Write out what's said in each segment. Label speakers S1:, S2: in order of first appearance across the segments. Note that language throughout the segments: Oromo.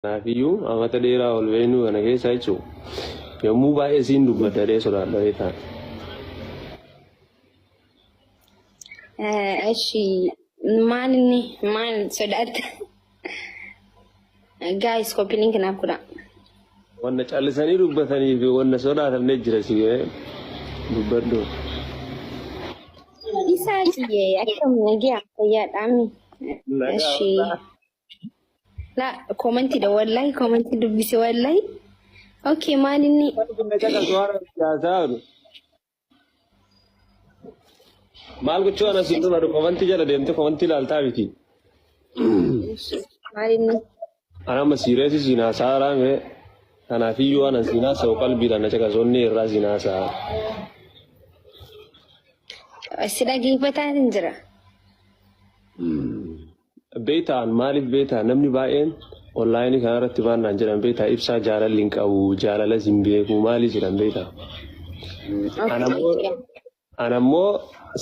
S1: Kanaafiyyuu amata dheeraa ol beenuu kana keessa jechuun yommuu baay'ee siin dubbadha dhee sodaadha beektaa. Eshi
S2: maal inni maal sodaatta? Gaayis koppii link naaf godha. Wanna
S1: callisanii dubbatanii fi wanna sodaatamne jira si dubbadhu.
S2: Isaa siyyee akkam nagaa fayyaadhaami. Eshi. La koomentiidha wallahi koomentii dubbise wallahi. Okay maal inni
S1: Maal gochuu ana siin dhuma komantii jala deemte komantii ilaaltaa miti.
S2: maal inni Ana amma
S1: siireessi siin haasaa raame. Kanaaf iyyuu ana siin haasa'u qalbiidhaan na caqasoonni irraa siin haasa'a.
S2: si dhageeffataa hin jira.
S1: Beektaa an maaliif beektaa namni baay'een online kanarratti maal naan jedhan beektaa ibsaa jaalalli hin qabu jaalalas hin beeku maalii jedhan beektaa an ammoo an ammoo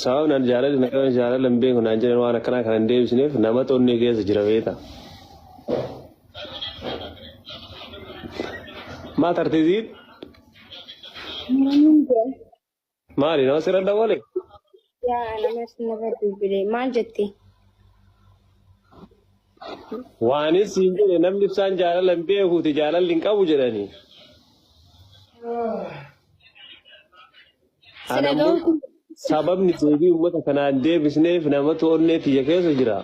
S1: sababni an jaalalli na qaban jaalala hin beeku naan jedhan waan akkanaa kana hin deebisneef nama xonnee keessa jira beektaa maa tartee ziid Maaliin jira? Maali nama sirra dawwale? Yaa
S2: nama sinirra bilbile maal jette?
S1: Waanis siin jedhe namni ibsaan jaalala hin beekuuti jaalalli hin qabu jedhanii. Sila Anammoo ga'uutu sababni deebii uummata kanaan deebisneef namatu onnee tiyya keessa jira.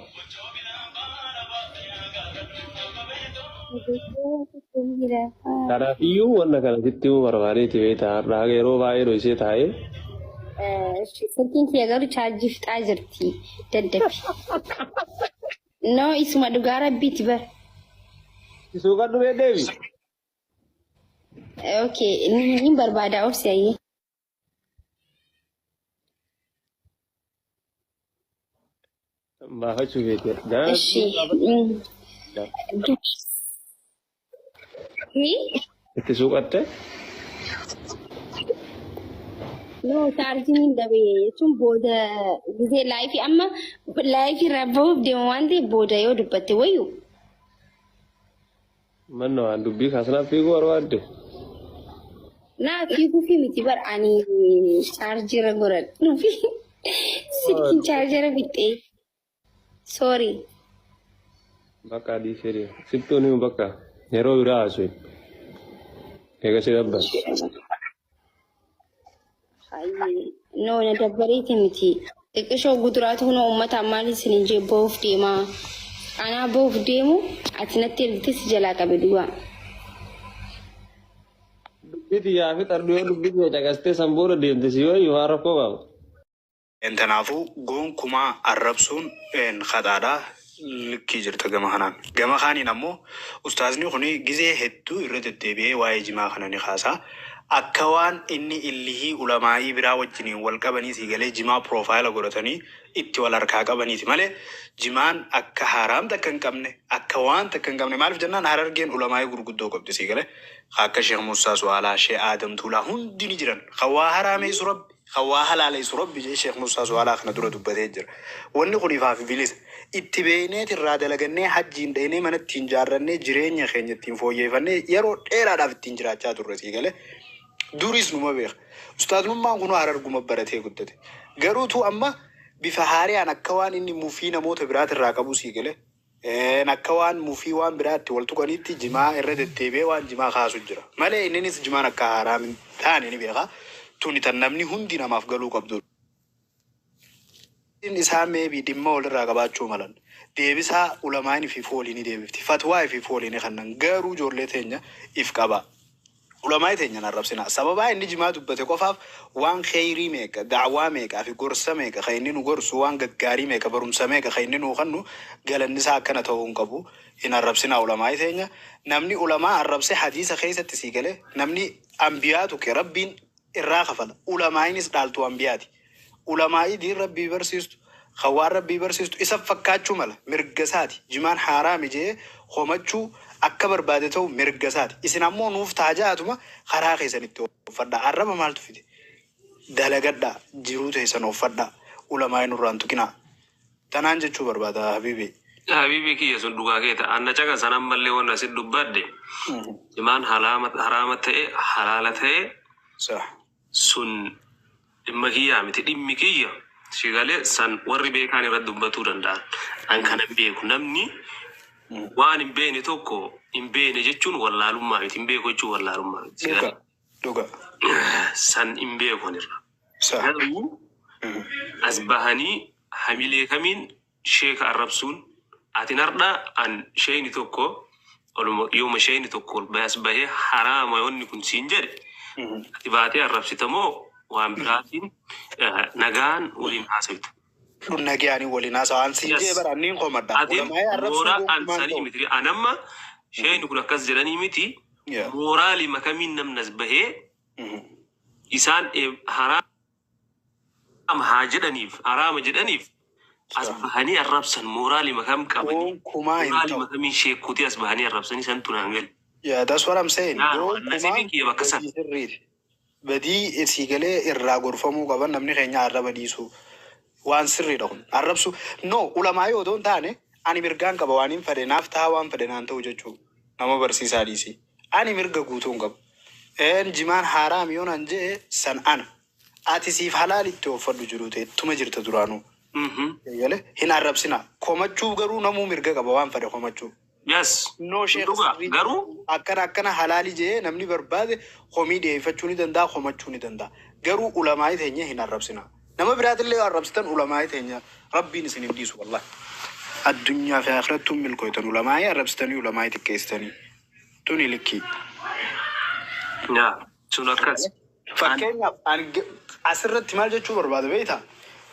S1: Kanaaf iyyuu wanna kana sitti himuu barbaadeeti beektaa har'a haga yeroo baay'ee dhoksee taa'ee
S2: Silkiin kiyya garuu chaarjii fixaa jirti. Daddabi. Noo isuma dhugaa rabbiiti bar. isuu
S1: kan dhufee deebi.
S2: Okay, ni barbaada obsi ayyee.
S1: Baafachuu beekee. Gaana
S2: Ishi.
S1: Mi? itti suuqatte.
S2: No, chaarjiin hin dabe jechuun booda gizee laayifii amma laayifii irraa bahuuf deemu waan ta'eef booda yoo dubbatte wayyu.
S1: Manna waan dubbii kaasnaaf fiiguu barbaadde?
S2: Naa fiiguufi miti bar ani chaarjira godhadhuufi silkiin chaarjira fixxee. Sorry.
S1: Bakka adii fedhe. Sittuun himu bakka. Yeroo biraa haaswi. Eega si dabban.
S2: No, na dabbareeti miti. Xiqqishoo guduraatu kunoo uummata ammaan isin hin jee bahuuf deemaa. Anaa bahuuf deemu ati natti ergitee si jalaa qabe duwwaa.
S1: Dubbii tiyyaa fi xarduu yoo dubbii tiyya caqastee san booda deemte si yoo waan rakkoo qaba.
S3: Kanaafuu gonkumaa arrabsuun khaxaadha. Likkii jirta gama kanaan. Gama kaaniin ammoo ustaazni kun gizee hedduu irra deddeebi'ee waa'ee jimaa kana ni kaasa. Akka waan inni illihii ulamaa'ii biraa wajjiniin wal qabanii sii galee jimaa piroofaayila godhatanii itti wal harkaa qabaniiti malee jimaan akka haaraam takka hin qabne akka waan takka hin qabne maaliif jennaan Harargeen ulamaa'ii gurguddoo qabdi sii galee ka akka Sheekh Muussaa Su'aalaa, Sheekh Aadam Tuulaa hundi ni jiran ka waa haraameessu Rabbi Kan waa halaaleessu Rabbi jedhee Sheikh Mussaa Su'aalaa kana dura dubbatee jira. Wanni kun ifaa fi bilisa. Itti beeyneeti irraa dalagannee hajjiin dhaynee mana ittiin jaarrannee jireenya keenya ittiin fooyyeeyfannee yeroo dheeraadhaaf ittiin jiraachaa turre sii galee. Duriis numa beeka. Ustaaznummaan kunuu Hararguma baratee guddate. Garuu tuu amma bifa haareyaan akka waan inni mufii namoota biraatirraa qabuu sii galee. Een akka waan mufii waan biraa itti wal tuqaniitti jimaa irra deddeebi'ee waan jimaa kaasu jira. Malee inninis jimaan akka haaraam hin taane ni beeka. Tuni tan namni hundi namaaf galuu qabdudha. Gaafiin isaan maybe dhimma walirraa qabaachuu malan. Deebisaa ulamaa'in ifiifuu walii ni deebifti. Fatwaa ifiifuu walii ni kannan. Garuu ijoollee teenya if qabaa. Ulamaa'i teenya hin arrabsinaa. Sababaa inni jimaa dubbate qofaaf waan kheeyrii meeqa, da'waa meeqa fi gorsa meeqa ka inni nu gorsu, waan gaggaarii meeqa, barumsa meeqa ka inni nuu kennu galanni isaa akkana tahuu hin qabu. Hin arrabsinaa ulamaa'i teenya. Namni ulamaa arrabse hadiisa keeysatti sii gale, namni anbiyaa tuqe Rabbiin irraa kafala. Ulamaa'inis dhaaltuu anbiyaati. Ulamaa'ii diin Rabbii barsiistu, kan waan Rabbii barsiistu isa fakkaachuu mala, mirga isaati. Jimaan haaraami je'ee komachuu, akka barbaade ta'uun mirga isaati. Isin ammoo nuuf taha ja'aatuma karaa keessan itti ooffadhaa. Arraba maaltu fide? Dalagadhaa, jiruu teessan ooffadhaa. Ulamaa'ii nurraa hin tuqinaa. Tanaan jechuu barbaada habiibii. Yaa
S1: habiibii kiyya sun dhugaa keeta. An na caqasan ammallee wanna isin dubbadhe. Jimaan halaama- haraama ta'e, halaala ta'e, Sah. sun dhimma kiyyaa miti dhimmi kiyya si gale san warri beekaan irra dubbatuu danda'an an kana hin beeku namni waan hin beekne tokko hin beekne jechuun wallaalummaa miti hin beeku jechuun wallaalummaa miti si gale Dhuga. Dhuga.
S3: san
S1: hin beeku ani irra Sa. garuu as bahanii hamilee kamiin sheeka arrabsuun atin hardha an sheeyni tokko ol yooma sheeyni tokko ol bahe as bahe haraama wanni kun siin jedhe ati baatee arrabsita moo waan biraatiin eh, nagaan waliin haasawita Dhun nagayaanii
S3: waliin haasawaan siin jee yes bara anniin komadha. atin Ulamaa'ee arrabsuu mooraa
S1: an gonkumaan sanii ta'u. miti an amma sheeyni kun akkas jedhanii miti Yeah. mooraalima kamiin namni as bahee Mhm. isaan eh, haraa Araama haa jedhaniif araama jedhaniif as bahanii arrabsan mooraalima kam qabanii Gonkumaa hin mooraalima ta'u. kamiin sheekkuutii as bahanii arrabsanii santu naan gale. Yeah, that's what I'm
S3: saying. Naanuma Gonkumaa nasibin kiyya bakka
S1: san. badii sirriiti.
S3: Badii sii galee irraa gorfamuu qaban namni keenya arraba dhiisuu. Waan sirriidha kun. Arrabsuu no ulamaa'ii odoo hin taane ani mirgaan qaba waanin fedhe naaf tahaa waan fedhe naan ta'u jechuu nama barsiisaa dhiisii. Ani mirga guutuu hin qabu. Een jimaan haaraam yoo naan je'e san ana. Ati siif halaali itti ooffadhu jiruu tee tuma jirta duraanuu. Eegale hin arrabsinaa. Komachuuf garuu namuu mirga qaba waan fedhe komachuu. Yes No
S1: sun sheikh dhugaa
S3: sirrii miti. garuu Akkana
S1: akkana halaali
S3: je'ee namni barbaade komii dhiyeeffachuu ni danda'a komachuu ni danda'a. Garuu ulamaa'i teenya hin arrabsinaa. Nama biraatillee yoo arrabsitan ulamaa'ii teenya Rabbiin isin hin dhiisu wallahi. Addunyaa fi aakhirattuu hin milkooytan ulamaa'ii arrabsitanii ulamaa'ii xiqqeessitanii. Tuni likkii. Yaa
S1: sun akkas. An Fakkeenyaaf ani
S3: ge- asirratti maal jechuu barbaada beektaa?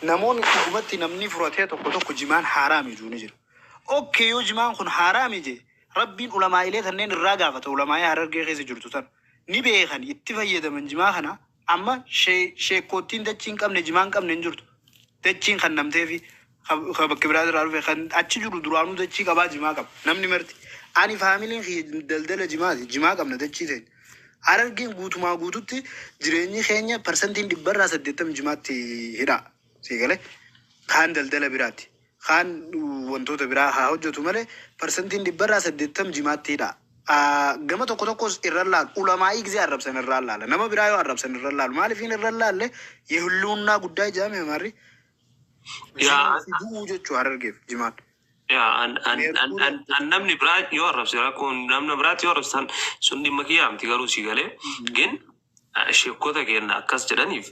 S3: Namoonni dhugumatti namni furatee tokko tokko jimaan haaraami jechuu ni jira. Okkee yoo jimaan kun haaraami jee Rabbiin ulamaa'ilee tanneen irraa gaafata ulamaa'ii harargee keessa jirtu tan ni beekan itti fayyadaman jimaa kana Amma sheekkoottiin dachii hin qabne, jimaa hin qabne hin jirtu. Dachiin kannamteefi ka bakka biraa irraa dhufe kan achi jiru duraanuu dachii qabaa jimaa qaba. Namni marti. Ani faamiliin kiyya daldala jimaati. Jimaa qabna dachii teenya. Harargeen guutumaa guututti jireenyi keenya parsantiin dhibbarraa saddeettamni jimaatti hidhaa. Sii galee? Kaan daldala biraati. kaan wantoota biraa haa hojjatu malee parsantiin dhibbarraa 80 jimaatti hidha. A gama tokko tokkos irran laalu. Ulamaa'ii gizee arrabsan irraan laala. Nama biraa yoo arrabsan irran laalu. Maalifiin irran laalle yehilluunnaa guddaa ijaame amaarri Yaa an- si du'uu jechuu harargeef jimaan. yaa an an an an Meerkurii an
S1: namni biraa yoo arrabse rakkoon namna biraatti yoo arrabsan sun dhimma kiyyaa miti garuu si galee gin sheekota keenya akkas jedhaniif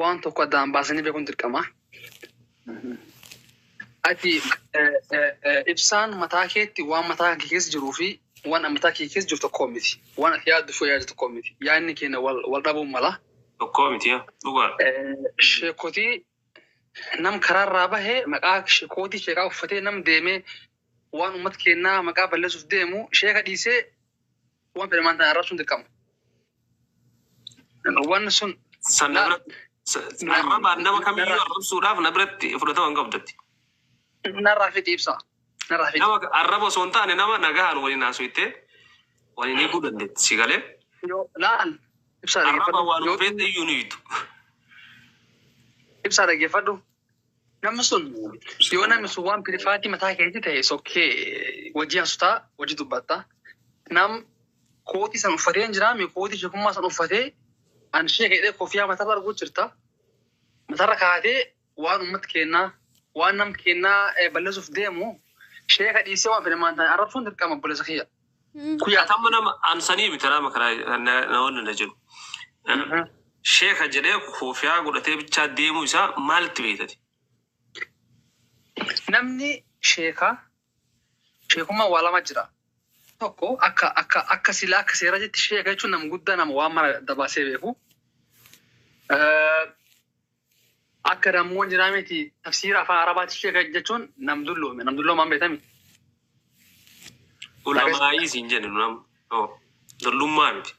S4: waan tokko addaan baasanii beekuun dirqama. Ati ibsaan mataa keetti waan mataa kee keessa jiruu fi waan mataa kee keessa jiru tokko miti. Waan ati yaaddu fi yaaddu tokko miti. Yaadni keenya wal dhabuun mala. Tokko miti yaa
S1: dhugaa. Sheekotii
S4: nam karaarraa bahee maqaa sheekootii sheekaa uffatee nam deemee Waan ummata keennaa maqaa balleessuuf deemu sheeka dhiisee waan fedhe maantaan arrabsuun dirqama. Waan sun San na biratti
S1: sa- na- arrabaan nama kamiyyuu narraa- arrabsuudhaaf na biratti fudhatama hin qabdutti. narraa
S4: fixi ibsa. Narraa fixi. Nama arraba osoo hin taane
S1: nama nagahaan waliin haasofte waliin hiikuu dandeetti si galee. Yoo laal ibsaa
S4: Arraba dhaggeeffadhu. waan Yoo- feete
S1: iyyuu ni hiitu.
S4: Ibsaa dhaggeeffadhu. Namni sun yoo namni sun waan pirifaatii mataa keetii ta'e sokkee wajjii hasutaa wajjii dubbatta. Nam kootii san uffatee hin jiraame kootii sheekummaa san uffatee an sheeka jedhee kofiyaa matarra arguu jirta. Matarra kaatee waan uummata keennaa waan nam keennaa balleessuuf deemu sheeka dhiisee waan fedhe maan ta'e arrabsuun dirqama obboleessa kiyya. Kuya tamma
S1: nama ansanii miti nama kana na- namoonni na jedhu. Mhm. Sheeka jedhee koofiyaa godhatee bichaa deemuu isaa maalitti beektati?
S4: Namni sheeka sheekummaa waa lama jira. Tokko akka akka akka sila akka seera jetti sheeka jechuun nama guddaa nama waan mara dabaasee beeku. Eh, Akka dammoon jiraa miti tafsiira afaan arabaati sheeka jechuun nam dulloome nam dulloomaan beetami.
S1: Ulamaa'ii siin jenne nu nama. Oh, Dullummaa miti.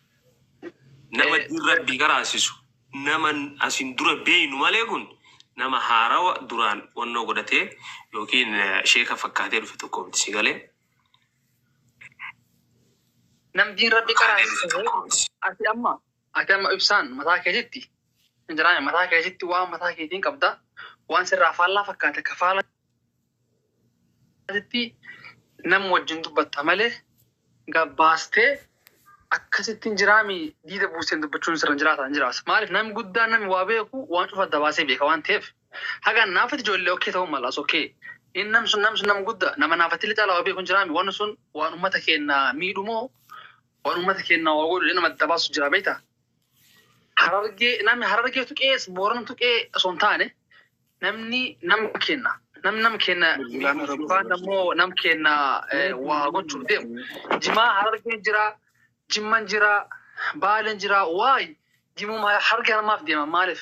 S1: Nama Eh, diin rabbii qaraasisu. Nama asin dura beeynu malee kun nama haarawa duraan wannoo godhatee yookiin eh, sheeka fakkaatee dhufe tokko miti si galee. Nam
S4: diin rabbi Fakkaatee dhufe qaraasise tokko miti. ati amma Ati amma ibsaan mataa keetitti hin jiraane mataa keetitti waan mataa keetiin qabda waan sirraa faallaa fakkaate ka faallatitti nam wajjin dubbatta malee gabbaastee akkasitti hin jiraami diida buusteen dubbachuun sirra hin jiraata hin jiraas maaliif nam guddaa nam waa beeku waan cufa adda baasee beeka waan ta'eef haga naafati ijoollee okkee ta'uu malaas okkee in nam sun nam sun nam guddaa nama naafatti illee caalaa waa beeku hin jiraami waan sun waan ummata keenya miidhumoo Waan uummata keenyaa waa godhu nama adda baasu jira beektaa? Harargee namni harargee tuqee boorana tuqee osoo hin taane namni nama keenna nam nam keenna yookaan ammoo nam keenna waa gochuuf deemu jimaa harargeen jira jimman jira baaleen jira waay jimuuma harargee harmaaf deema maaliif?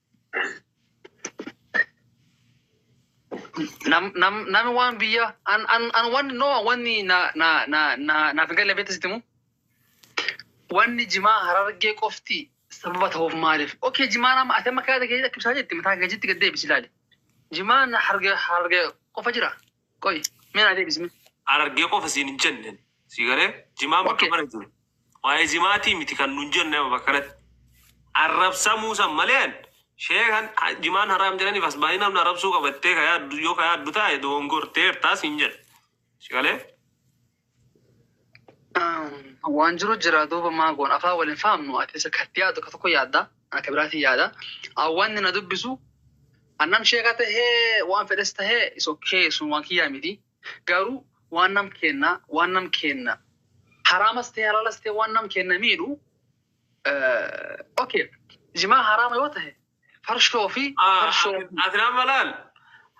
S4: nam nam nam waan biyya an an an wanni no wanni na na na na naaf hin galle beektu sitimu wanni jimaa harargee qofti sababa ta'uuf maaliif okay jimaa nama ati amma kaata kee akkibsaa jetti mataa kee jetti gad deebisi ilaali jimaa harargee harargee qofa jira Qoy mee naa deebisi mee. Harargee qofa siin
S1: hin jenne. Sii galee? Jimaan bakka Okay. mara jiru. Waa'ee jimaatii miti kan nun jenne amma bakka kanatti. Arrabsamuu san malee an sheekan ha- jimaan haraam jedhaniif as baay'ee namni arrabsuu qabattee ka yaaddu yoo ka yaaddu taa'e dogongorteertaa siin jedhe. Sii galee?
S4: Waan jiru jira duuba maa goon afaan waliin fahamnu ati isa katti yaadu ka tokko yaadda akka biraatiin yaada. Awwaanni na dubbisu annam sheeka tahee waan fedhes tahee is okay sun waan kiyyaa miti. Garuu waan nam keenna waan nam keenna haraamas ta'e halaalas ta'e waan nam keenna miidhu okay jimaa haraama yoo ta'e Farshoo fi farshoo fi. Ati amma
S1: laal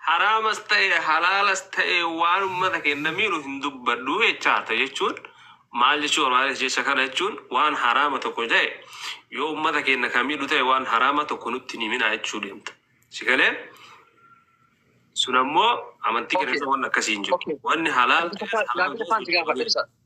S1: haraamas ta'e halaalas ta'e waan ummata keenya miidhu hin dubbadhu jechaarta jechuun maal jechuu barbaades jecha kana jechuun waan haraama tokko ta'e yoo ummata keenya kan miidhu ta'e waan haraama tokko nutti hin himinaa jechuu deemta. Si galee sun ammoo amantii keenya Okay. keessa waan akkasii hin jiru. Okay. Wanni halaal Gaaffii ta'es tokko- haraam gaaffii ta'es tokkoon si gaafadha ibsa.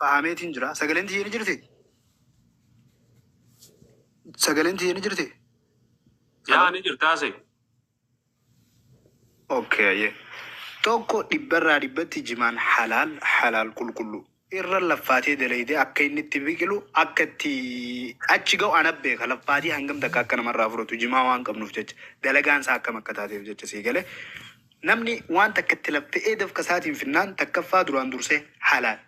S3: Fahameetiin jira. Sagaleen tiyya ni jirti? Sagaleen tiyya ni jirti? Yaa
S1: ni jirtaa se.
S3: Okay, ayyee. Tokko dhibbarraa dhibbatti jimaan halaal halaal qulqulluu. Irra laffaatee dalaydee akka inni itti biqilu akka itti achi ga'u ana beeka laffaatii hangam takka akka namarraa fudhatu jimaa waan qabnuuf jecha dalagaan isaa akkam akka taateef jecha sii galee Namni waan takka itti laffe'ee dafqa isaatiin finnaan takkaffaa duraan dursee halaal.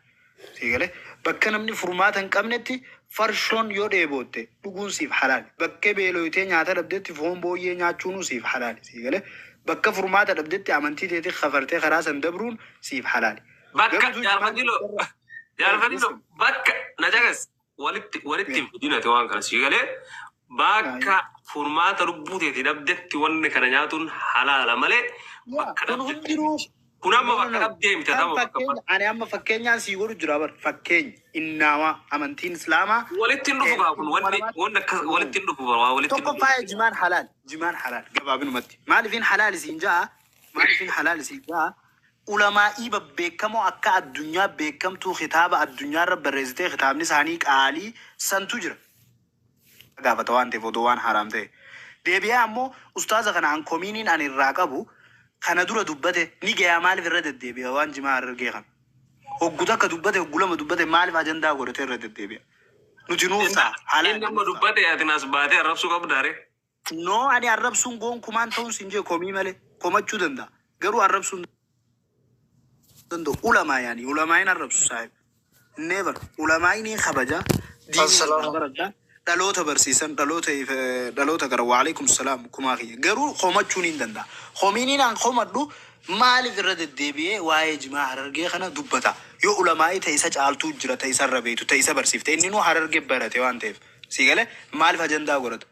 S3: Sii galee? Bakka namni furmaata hin qabnetti farshoon yoo dheebootte dhuguun siif halaal. Bakkee beelooytee nyaata dhabdetti foon booyyee nyaachuunuu siif halaal. Sii galee? Bakka furmaata dhabdetti amantii teetii kafartee karaa san dabruun siif halaal. Bakka, Garuu jaal
S1: Fadiloo, jaal Fadiloo, bakka, na caqasi. walitti walitti hin fidin ati waan kana sii galee bakka furmaata lubbuu teeti dhabdetti wanni kana nyaatuun halaala malee bakka kun dhabdetti hundinuu kun amma no no bakka no dhabdee miti kan amma bakka fakkeenya bakka ani amma fakkeenyaan
S3: sii godhu jira bar fakkeenya innaamaa amantiin islaamaa walitti hin dhufu eh, kaa kun
S1: ilma wanni namaatti wanni akka eh, walitti hin dhufu bara waa walitti hin tokkoffaa dhufu jimaan halaal
S3: jimaan halaal gabaabinumatti maaliifin halaal isiin ja'a maaliifin halaal isiin ja'a Ulamaa'ii babbeekkamoo akka addunyaa beekkamtuu kitaaba addunyaarra barreessitee kitaabni isaanii qaalii santu jira. Haa gaafata waan ta'eef odoo waan haraam ta'e. Deebi'ee ammoo ustaaza kana an komiiniin ani irraa qabu kana dura dubbate ni gayaa maaliif irra deddeebi'a waan jimaa harargee kana. Hoggu takka dubbate hoggu lama dubbate maaliif ajandaa godhatee irra deddeebi'a. Nuti nuuf ta'a Inni halaali amma nuuf ta'a. dubbate
S1: atin as baatee arrabsuu qabdaare. No ani
S3: arrabsuun goonkumaan ta'uun sin jee komii malee komachuu danda'a garuu arrabsuun danda'u ulamaa yaani ulamaayin arrabsu saahib never ulamaayin hin kabaja diinii irraa Assalamu baradha dhaloota barsiisan dhaloota if- eh, dhaloota gara waalaikum salaam kumaa kiyya garuu komachuun hin danda'a komiiniin an komadhu maaliif irra deddeebi'ee waa'ee jimaa harargee kana dubbata yoo ulamaa'ii ta'e isa caaltuu jira ta'e isa irra beektu ta'e isa barsiifte inni nuu hararge barate waan ta'eef sii galee maaliif ajandaa godhata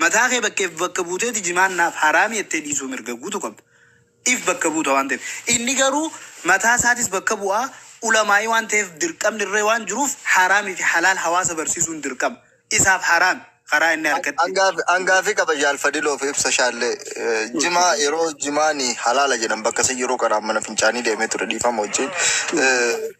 S3: Mataa kee bakkeef bakka buuteeti jimaan naaf haraami jettee dhiisuu mirga guutu qabda. If bakka buuta waan ta'eef. Inni garuu mataa isaatis bakka bu'a, ulamaa'ii waan ta'eef dirqamni irra waan jiruuf haraami fi halaal hawaasa barsiisuun dirqama. Isaaf haraami. Karaa inni harkatti. An gaafii qaba jaal
S5: fadiloof ibsa shaalle jimaa yeroo jimaani halaala jedhan bakka san yeroo qaraan mana fincaanii deemee ture dhiifama wajjiin.